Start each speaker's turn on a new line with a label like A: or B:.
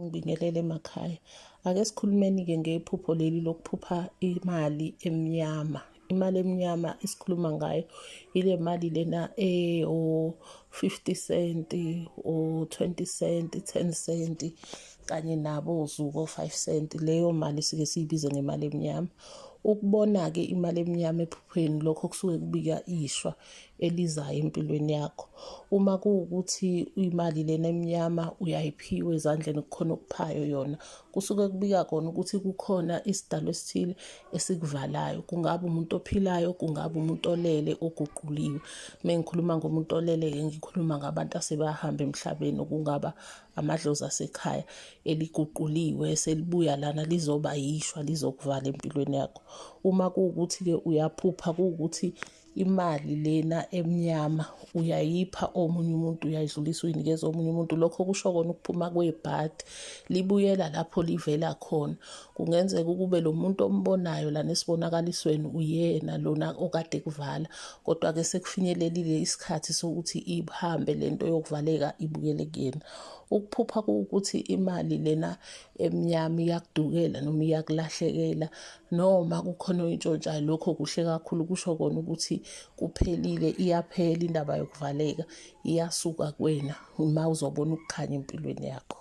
A: Ngibingelele emakhaya. Ake sikhulumeni-ke ngephupho leli lokuphupha imali emnyama. Imali emnyama esikhuluma ngayo ile mali lena eyo-fifty cent o-twenty cent, ten cent kanye nabo zuko five cent. Leyo mali sike siyibize ngemali emnyama. Ukubona-ke imali emnyama ephupheni lokho kusuke kubika ishwa. elizayo empilweni yakho uma kuwukuthi imali lena emnyama uyayiphiwa ezandleni kukhona okuphayo yona kusuke kubika kona ukuthi kukhona isidalo esithile esikuvalayo kungaba umuntu ophilayo kungaba umuntu olele oguquliwe uma ngikhuluma ngomuntu olele-ke ngikhuluma ngabantu asebahamba emhlabeni okungaba amadlozi asekhaya eliguquliwe selibuya lana lizoba yishwa lizokuvala empilweni yakho uma kuwukuthi-ke uyaphupha kuwukuthi ku imali lena emnyama uyayipha omunye umuntu uyayidlulisa uyinikeza omunye umuntu lokho kusho kona ukuphuma kwebhadi libuyela lapho livela khona kungenzeka ukube lo muntu ombonayo lana esibonakalisweni uyena lona okade kuvala kodwa-ke sekufinyelelile isikhathi sokuthi ihambe le nto yokuvaleka ibuyele kuyena ukuphupha kuwukuthi imali lena emnyama iyakudukela noma iyakulahlekela noma kukhona oyintshontshayo lokho kuhle kakhulu kusho kona ukuthi kuphelile iyaphela indaba yokuvaleka iyasuka kwena uma uzobona ukukhanya empilweni yakho